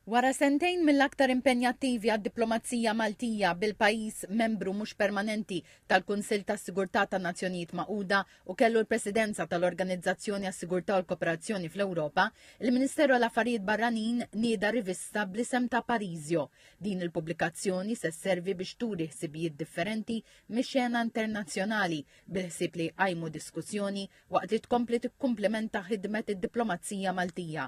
Wara sentejn mill-aktar impenjattivi għad-diplomazija Maltija bil-pajjiż membru mhux permanenti tal-Kunsill tas-Sigurtà tan-Nazzjonijiet Magħquda u kellu l-Presidenza tal-Organizzazzjoni għas-Sigurtà u l-Kooperazzjoni fl-Ewropa, il-Ministeru għall-Affarijiet Barranin nieda rivista bl-isem ta' Parisio. Din il-pubblikazzjoni se sservi biex turi ħsibijiet differenti mix-xena internazzjonali bil-ħsieb li jqajmu diskussjoni waqt li tkompli tikkumplimenta ħidmet id-diplomazija Maltija.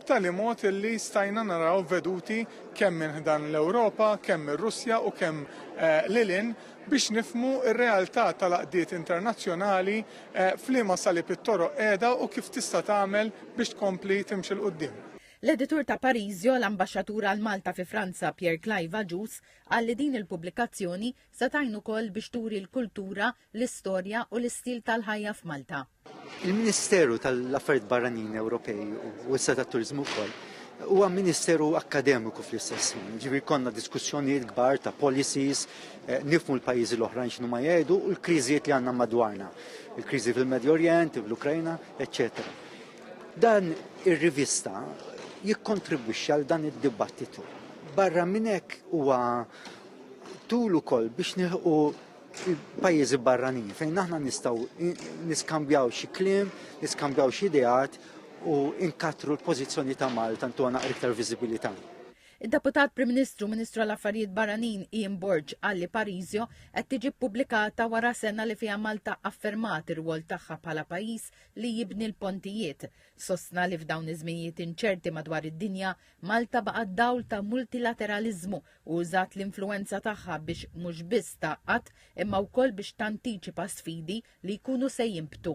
b'tali mod li stajna naraw veduti kemm minn ħdan l-Ewropa, kemm mir-Russja u kemm lil hinn biex nifhmu r-realtà tal-għaqdiet internazzjonali f'liema salib it-toroq qiegħda u kif tista' tagħmel biex tkompli timxi 'l quddiem. L-editur ta' Parisio, l-Ambaxxatur għal Malta fi Franza Pierre Clive Agius qal li din il-pubblikazzjoni se tgħin ukoll biex turi l-kultura, l-istorja u l-istil tal-ħajja f'Malta. Il-Ministeru tal-Affarijiet Barranin Ewropej u issa tat-Turiżmu wkoll huwa ministeru akkademiku fl-istess ħin. Ġifieri konna diskussjonijiet kbar ta' policies, eh, nifmu l-pajjiżi l-oħrajn x'inhu ma jgħidu u l-kriżijiet li għandna madwarna. Il-kriżi fil-Medju Orjent, fl-Ukrajna, eċċetera. Dan ir-rivista jikkontribwixxi għal dan id-dibattitu. Barra minn hekk huwa tul ukoll biex nilħu pajjiżi barranin fejn aħna nistgħu niskambjaw xi kliem, niskambjaw xi ideat u inkattru l-pożizzjoni ta' Malta ntuna iktar viżibilità. Id-Deputat Prim Ministru Ministru għal Affarijiet Barranin Ian Borg qal li Parisio qed tiġi ppubblikata wara sena li fiha Malta affermat ir-rwol tagħha bħala pajjiż li jibni l-pontijiet. Sostna li f'dawn iż-żminijiet inċerti madwar id-dinja, Malta baqgħet dawl ta' multilateraliżmu u użat l-influwenza tagħha biex mhux biss tgħaqqad imma wkoll biex tantiċipa sfidi li jkunu se jinbtu.